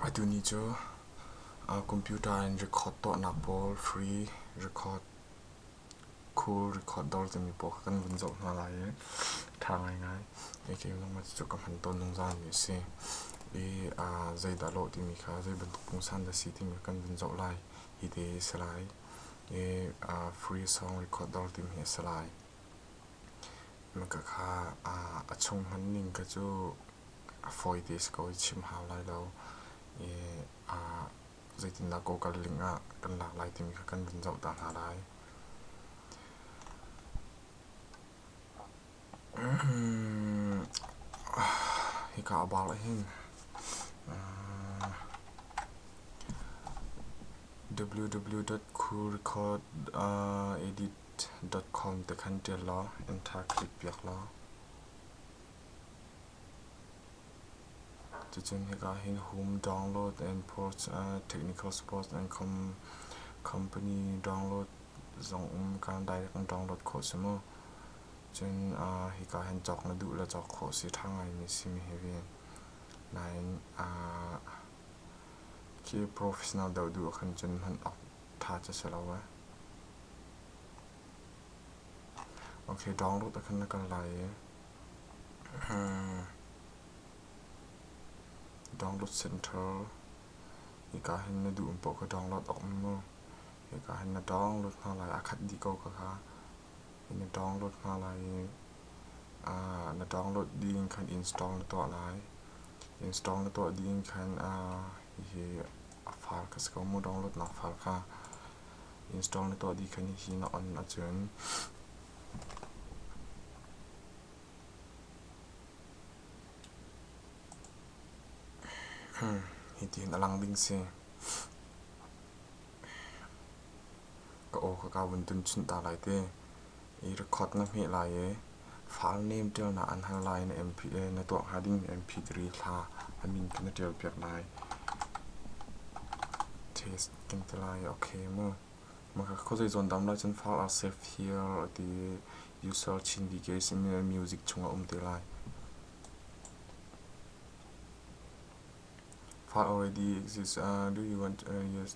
Atu ni cu computer in record tuahnak pawl free record cool record dawr timi pawl kan vun zoh hna lai i ṭha ngaingai. Kei lungmah cucu ka hman tawn zungzal mi a si. I zeidah lawh timi kha zeibantuk pungsan dah si timi kan vun zoh lai. Hi ti hi a si lai. I free song record dawr timi hi a si lai. Na ka kha a chung hman ning kha cu a fawi te a si ko i chim hau lai lo i zeitindah Google link ah kan lak lai timi kha kan vun zoh ta hna lai. Hika a bal ahhin www.cool.edit .com te khan ṭial law enter click piak law cucun hika hin home download and ports uh, technical support and com company download zong um kan direct in download khawh si mu cun uh, hika hin cawk na duh le cawk khawh si ṭha ngaimi simi hi vi nain uh, khi professional deuh duh khan cun hman awk tha cu si lo ee. Okay, download akhan na kal lai i download center hika hin na duh poh kha download awk mu hika hin na download hna lai akhat dih ko ka kha na download hna lai i na download ding khan install na tuah lai install na tuah ding khan hihi far ka si ko mu download nak far kha install na tuah dih kha ni hi na on ahcun hitin a lang ding si ka aw ka kaa vun tun chin ta lai te. I record na hmeh lai i file name ṭial na an hal lai na MP le na tuah hnga ding MP diri thla a min kha na ṭial piak lai. Taste kan ti lai okay mu. Maka khawzei zawn dam lai cun file are safe here ti user Chin DK sin music chunga um te lai. File already exists. Uh, do you want uh, yes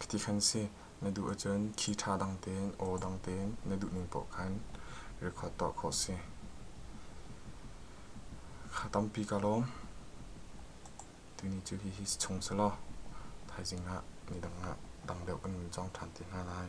Khi ti khan si, na duh ahcun khi ṭha dang tein aw dang tein na duhning paoh khan record tuah khawh a si. Kha tampi ka lawm. Tuni cu hihi chung si law thaizing ah nidang ah dang deuh kan nun cang ṭhan te hna lai.